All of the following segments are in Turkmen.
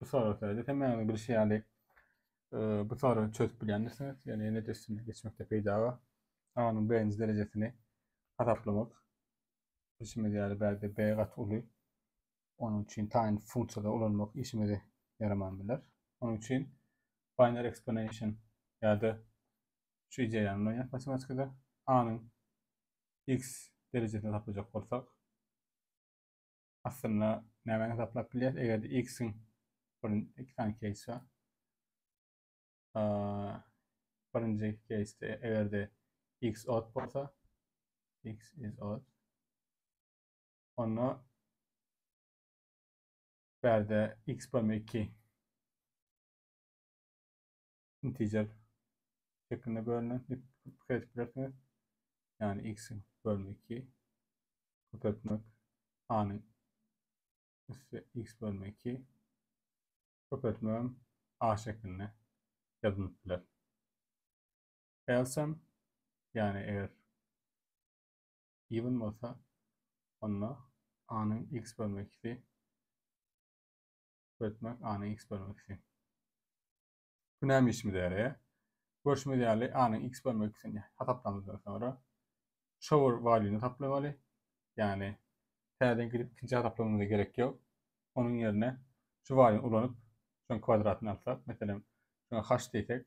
Bu soraglarda hem öňe bilişi ýaly bu soragy çözüp bilýändirsiniz. Ýöne ýene üstünden geçmekde peýda bar. A-nyň B-nji derejesini hasaplamak. Bilşimiz ýaly bärde B gaty uly. Onuň üçin taýyn funksiýada ulanmak işimize ýaraman biler. Onuň üçin binary exponential ýa-da şu ideýany ulanýarys matematikada. A-nyň x derejesini hasaplajak bolsak, Aslynda nämäni hesaplap bilýäs, eger-de x-iň bir iki sany keýsi bar. Birinji keýsde eger-de x odd bolsa, x is odd. Onda bärde x bölme 2 integer şeklinde bölünen diýip pikir edip bilersiňiz. Ýagny x bölme 2 köpeltmek a-nyň üsti x bölme 2 köpeltmegem a şeklinde ýazylyp biler. Elsem ýagny eger even bolsa onda a-nyň x bölme 2 köpeltmek a-nyň x bölme 2 Günäm işimiz ýaly. Görşümiz ýaly A-nyň X bölme öküsini hasaplamazdan soňra shower value-ny hasaplamaly. Ýagny täzeden gidip ikinji hasaplamamyza gerek ýok. Onuň ýerine şu value-ny ulanyp şoň kwadratyny alsak, meselem şoňa h diýsek,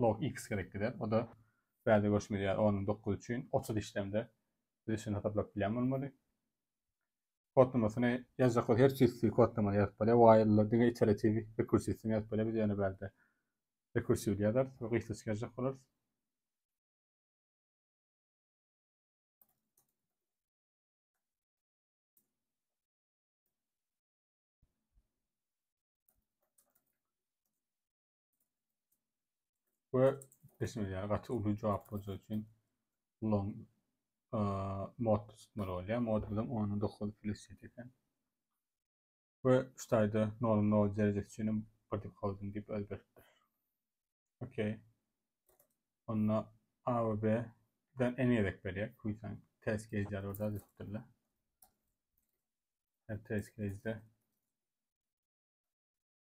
log x gerek gider. O-da bärde görşümiz ýaly onuň dokuz üçin otuz işlemde biz üçin hasaplap bilýän bolmaly. Kodlamasyny ýazjak bolsa her çysty kodlamany ýazyp bolýar. While-da diňe iteratiw rekursiwsini ýazyp bolýar. Biz ýöne bärde rekursiwli ýazarys we gysgaçyk ýazjak bolarys. we ismi ýa gaty uly jogap bolsa üçin long mod tutmaly bolýar. Mod bilen 19 plus eken. Ve şu tayda normal nol derecesi üçin body holding deyip özgerttir. Okey. Onda A ve B den en gerek berýär. Kuysan test case ýaly orada düzüpdirler. Her test case'de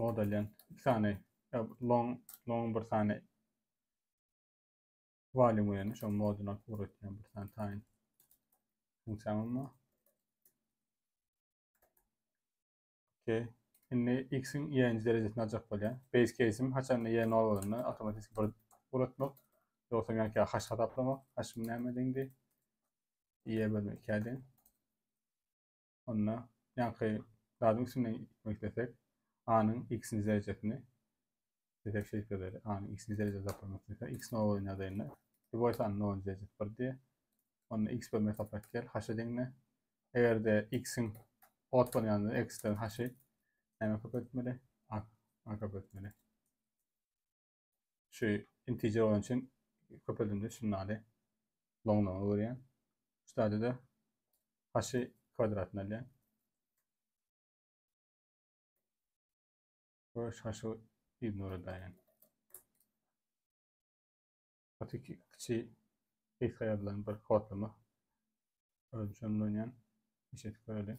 modalýan iki sany long long bir sany walim bilen şol moduna tory etýän bir sany taýyn funksiýam bar. Okey. Indi x-iň y-nji derejesini aljak bolýar. Base case-im haçanda y nol bolanda awtomatiki bir ugrutmak. Ýogsam ýa ki haş hasaplamak. Haşym näme deňdi? Y-e bölmek ikä deň. Onda ýaňky zadyň üstünden gitmek dersek, a-nyň x-nji derejesini Bezeg şeýkeleri a-ny x-nji derejede saklamak isleseň, x nollyň ýagdaýynda lýuboý sany nolunjy derejesi bir diý. Onda x bölme saplap gel, h-e deňle. Eger-de x-iň ot bolan ýagdaýynda x-den h-i nämä köpeltmeli? A-a köpeltmeli. Şu integer bolan üçin köpeldimde şuny aly. Loňlaňa öwürýän. Şu stadiyada h-i kwadratyn alýan. we şaşygy ignore edaýin. Gaty kiçi gysga ýazylan bir kodlama. Özüm şony oýnan. Işe göreli.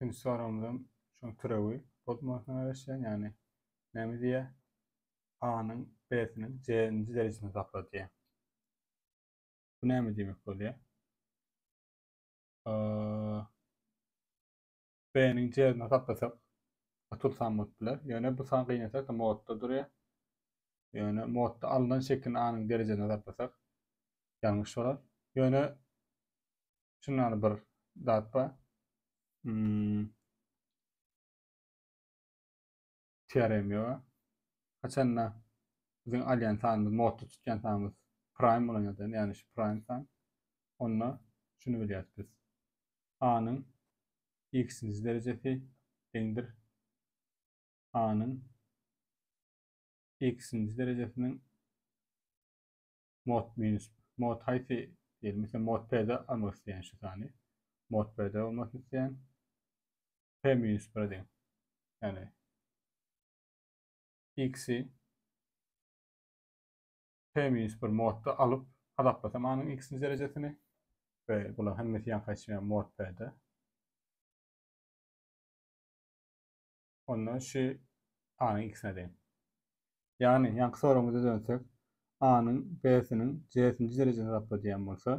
Üçünji soragymyzam şoň türewi bolup maňa garaşýan, ýagny näme diýýär? A-nyň B-siniň C-nji derejesini tapla diýýär. Bu näme diýmek bolýar? A Bäniň jerini saklasak otur san bot biler. Ýöne bu san gynasak-da modda durýar. Ýöne modda alnan şekilini anyň derejesine saklasak ýalňyş bolar. Ýöne şundan bir zat bar. Hmm. CRM ýok. Haçanda biziň alýan sanymyz, modda tutýan sanymyz prime bolan ýagdaýynda, ýagny şu prime san, onda şuny bilýäris biz. A-nyň x-nji derejesi deňdir A-nyň x-nji derejesiniň Mod minus mod haýsy diýeli misal mod p de almak isleýän şu sany mod p de bolmasyn isleýän p minus bir deň ýagny x-i p minus bir modda alyp hasaplasam anyň x-nji derejesini we bular hemmesi ýankaýşyň mod p de onda şu A-nyň ikisine deň. Ýagny, ýaňky soragymyza dönsek, A-nyň B-siniň J-nji derejesini tapla diýen bolsa,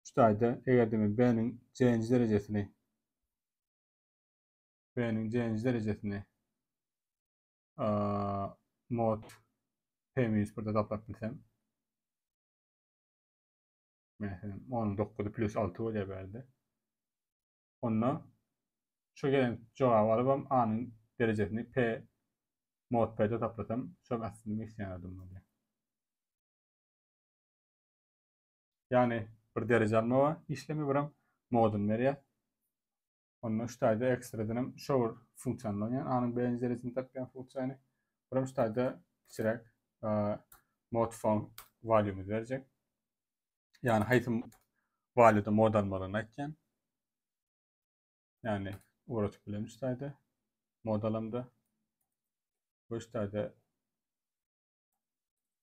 şu taýda eger-de men B-niň J-nji derejesini B-niň J-nji derejesini mod P minus birde taplap bilsem, Meselem, 10-9 plus 6 bolýar bärde. onda şo gelen jogaby alybam A-nyň derejesini P mod P-de taplasam şol aslynda men isleýän adam bolýar. Ýagny bir dereje almaga işlemi birem moduny berýär. Onda şu taýda ekstradan hem şo bir funksiýany ulanýan A-nyň birinji derejesini tapýan funksiýany birem şu taýda kiçiräk mod font valýumyzy berjek. Yani haýsy walýuta mod almalyny aýtýan. Yani ugratyp bilen üstayda mod alamda. Bu üstayda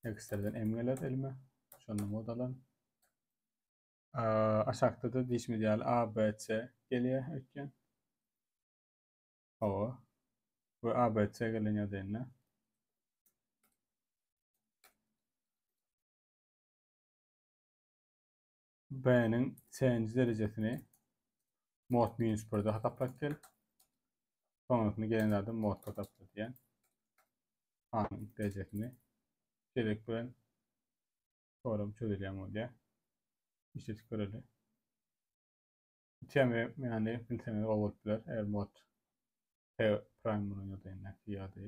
eksterden em geler elime. Şonda mod alan. Aşakda da dişimiz ýaly A, B, C gelýär öýtýän. Hawa. Bu A, B, C gelen ýadynda. B-niň C-nji derejesini mod minus 1-de hasaplap gel. Soňrasyny gelen zady mod hasapla diýen. A-nyň derejesini gerek bilen soram çözülýän bolýar. Işletip göreli. Üçem ýany bilseňiz gowy bolup biler. Eger mod P prime bolan ýagdaýynda ýa-da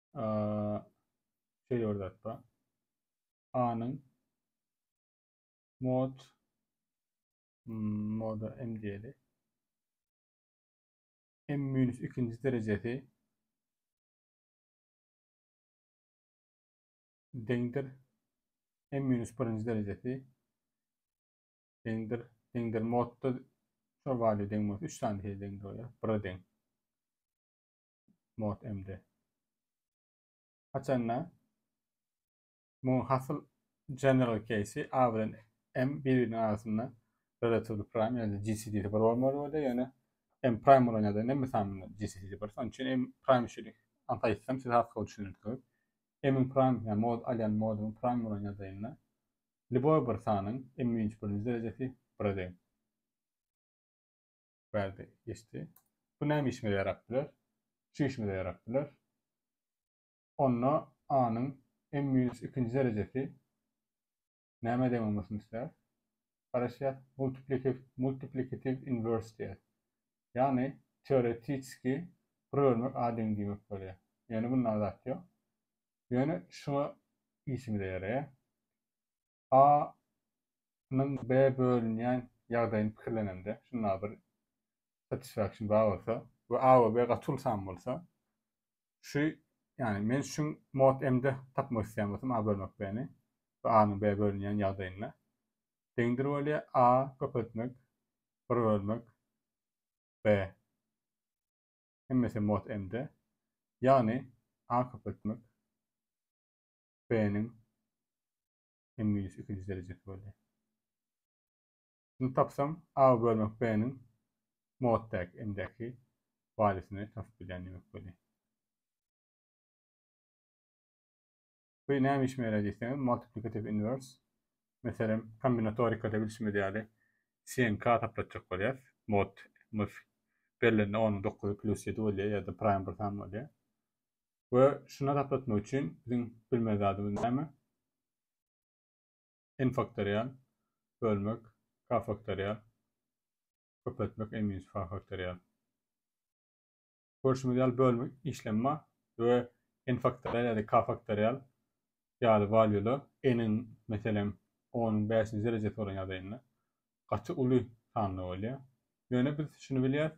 şeýle bir zat bar. A-nyň mod moda m diýeli. M minus ikinji derejesi deňdir m minus birinji derejesi deňdir deňdir modda şol wagtda deň bolsa üç sany deň bolýar. Bire deň. Mod MD. Haçanda muň hasyl general case-i A bilen M bir-biriniň arasynda relatively prime ýa-da GCD-si bir bolmaly bolýar, ýöne M prime bolan ýagdaýynda M esamynda GCD-si bir. Şonuň üçin M prime üçin anta aýtsam siz arkaly düşünersiňiz. M-iň prime, ýa mod alýan moduň prime bolan ýagdaýynda lýuboý bir sanyň M-iň birinji derejesi bire deň. Bärde geçdi. Bu näme işimize ýarap biler? Şu işimize ýarap biler. Onda A-nyň m minus ikinji derejesi nämä deň bolmasyny isläris? Garaşýas, multiplikatiw inwers diýýär. Ýagny teoretiki bir bölmek A deň diýmek bolýar. Ýöne bunda zat ýok. Ýöne şuňa işimize ýaraýar. A nyň B bölünýän ýagdaýyny pikirlenemde, şunda bir satisfaction bar bolsa we A we B gaty uly san bolsa, şu, ýagny men şuň mod m-de tapmak isleýän bolsam A bölmek B-ni we A nyň B bölünýän ýagdaýynda deňdir bolýar A köpeltmek bir bölmek B hemmesi mod m-de, ýagny A köpeltmek. B-niň N minus ikinji derejesi bolýar. Şuny tapsam, A bölmek B-niň mod däki, M-däki walisyny tapyp bilýän diýmek bolýar. Bu näme işime ýaraýar diýseňiz, multiplikativ inwers, meselem, kombinatorikada bilşimiz ýaly CNK taplatjak bolýas. Mod-mys berilende onuň dokuzy plus ýedi bolýar ýa-da praým bir san bolýar. We şuna taplatmak üçin biziň bilmeli zadymyz näme? N faktorial bölmek K faktorial köpeltmek N minus K faktorial. Görşümiz ýaly bölmek işlemi bar we N faktorial ýa-da K faktorial ýaly walýular N-iň meselem onuň bäşinji derejesi bolan ýagdaýynda gaty uly sanda bolýar. Ýöne biz şuny bilýäris,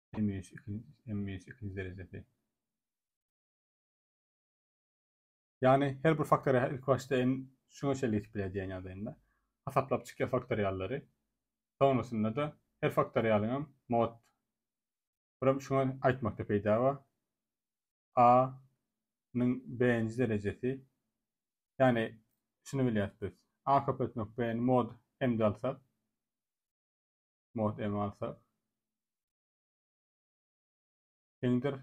Emmiýet emmiýet ikinji derejesi. Ýagny her bir faktoriýa ilk başda en şuňa çenli ýetip biler diýen ýagdaýynda hasaplap çykýar faktoriýallary. Soňrasynda-da her faktoriýalyň hem mod Buram şuňa aýtmakda peýda bar. A nyň B-nji derejesi. Ýagny şuny bilýäs biz. A köpeltmek B-ni mod M-de alsak. mod em alsa. Teňdir.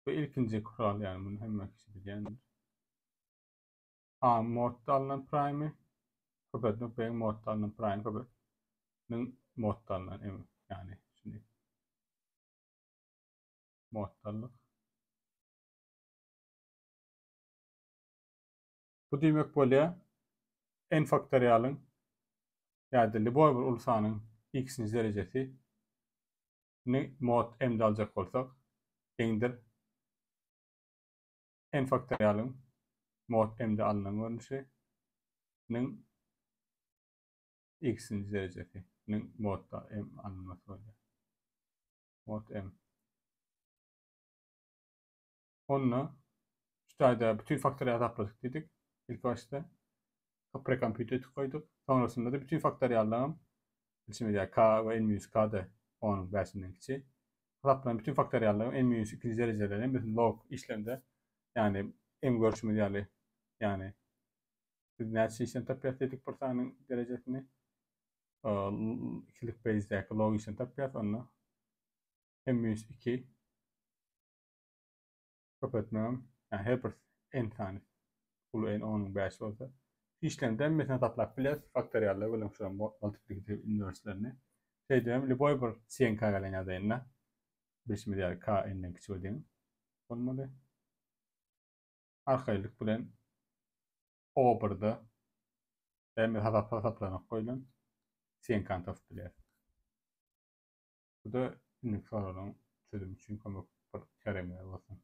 Bu ilkinji kural yani bunu hemme kişi bilýändir. A modda alynan prime köpeltmek B modda alynan prime köpeltmek modda alynan emi yani şimdi moddalyk Bu diýmek bolýar, n faktorialyň ýa-da lýuboý bir uly sanyň x-nji derejesi ni mod m-de aljak bolsak, deňdir n faktorialyň mod m-de alnan görnüşi niň x-nji derejesi niň mod m alynmasy bolýar. Mod m. onda şu taýda bütin faktory ýasapladyk diýdik. Ilk başda prekompýuter goýduk. Soňrasynda-da bütin faktoriallarym bilşimiz ýaly k we n-k-da onuň bäşinden kiçi. Hasaplanan bütin faktoriallarym n-ikinji derejeleri hem biz log işlemde ýagny öň görşümiz ýaly ýagny biz näçe işlem tapýarys diýdik bir sanyň derejesini ikilik beýzdäki log işlem tapýarys onda n-2 Köpeltmegem ýa her bir n sany uly n onyň bäşi bolsa işlemde hem meselen saklap bileris faktorialda welin şu multiplikativ inwerslerini şeýdip hem lýuboý bir çen k gelen ýadaýynda bilşimiz ýaly k n-den kiçi we deň bolmaly arkaýynlyk bilen o birde hem hasaplanok goýlan çen k-ny tapyp bileris. Bu-da indi soraglaryň çözümi üçin kömek bir çäre bolsun.